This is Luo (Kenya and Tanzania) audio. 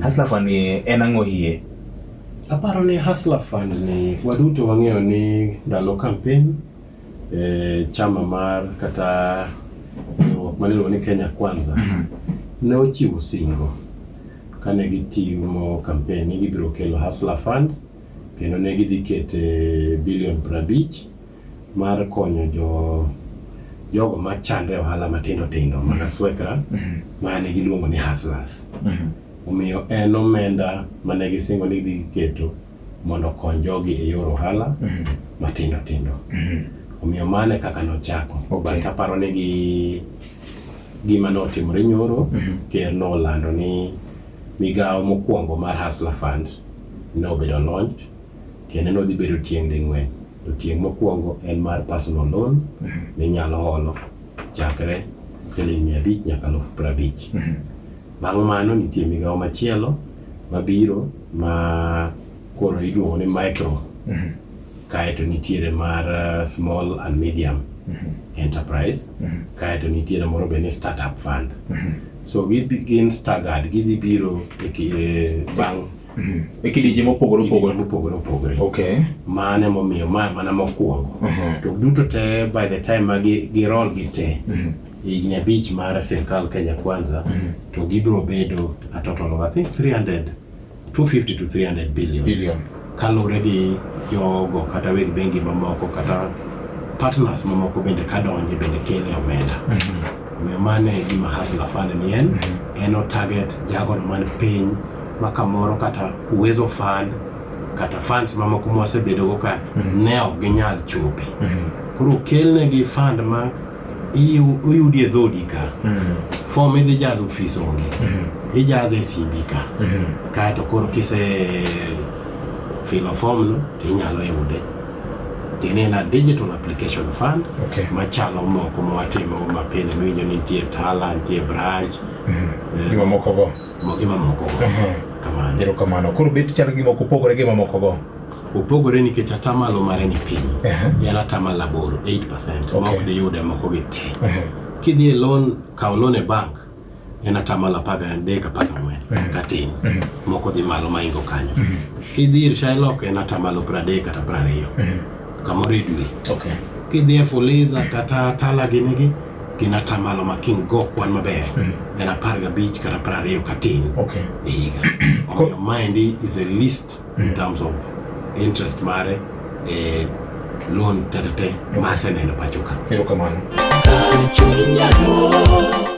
Hustler Fund ni en ang'o hie? Aparo ni Hustler Fund ni waduto wang'eyo ni ndalo campaign e, chama mar kata riwruok mane iluongo ni Kenya Kwanza mm -hmm. ne ochiwo singo kane gitimo campaign ni gibiro kelo Hustler Fund kendo ne gidhi kete bilion prabich mar konyo jo jogo ma chandre ohala matindo tindo mana swekra mhm. ma ne giluongo ni hustlers mhm. omiyo en omenda mane gisingo ni gidhi keto mondo okony jogi e yor ohala mhm. matindo tindo omiyo mane kaka nochako okay. but aparo ni gi gima notimore nyoro ker nolando ni migawo mokwongo mar hustler fund nobedo launch kendo nodhi bedo tieng' ding'wen To tieng' mokwongo en mar personal loan minyalo holo chakre siling' mia abich nyaka alufu piero abich. Bang' mano nitie migawo machielo mabiro ma koro iluongo ni micro kaeto nitiere mar uh, small and medium enterprise kaeto nitiere moro be ni startup fund so gibi- gin staggered gidhi biro e ki- e bang' Mhm. E kidienje mopogore opogore. Mopogore opogore. Okay. Mano ema omiyo ma mana mokwongo. Mhm. To duto te by the time ma girol gi te. Mhm. higni abich mar sirkal Kenya Kwanza to gibiro bedo a total of I think 300 250 to 300 billion. Billion. Kaluwore gi jogo kata weg bengi mamoko kata partners mamoko bende kadonje bende kele omenda. Omiyo mano e gima Hustler Fund ni en, en o target jagono man piny ma kamoro kata Uwezo Fund kata funds mamoko ma wasebedogo ka mm-hmm. ne ok ginyal chopi. Mm-hmm. Koro okelnegi fund ma oyudi e dhodi ka, mm-hmm. form idhi jazo ofis onge, ijazo e simbi ka, kaeto koro kise filo form no to inyalo yude. tiende en a digital application fund okay. machalo moko mwatimo mapile miwinjo ni nitie tala nitie branch mhm. gima moko go gima moko go kamano ero kamano koro bet chalo gima ok opogore gima moko go opogore nikech atamalo mare ni piny en atamalo aboro 8 percent ma ok diyude moko gi te kidhi e loan kawo loan e bank en atamalo apar gadek apar gang'wen Mhm. katin Mhm. moko dhi malo maingo kanyo Mhm. kidhi ir Shylock en atamalo pradek kata prariyo Mhm. kamoro e dwe Okay. kidhi e Fuliza kata Tala ginigi gin atamalo ma king go kwan maber Mhm. en apar gabich kata prariyo katin Okay. e higa omiyo maendi is a list in Mhm. terms of interest mare e loan tetete ma aseneno pachoka Erokamano. Kar chunya duong',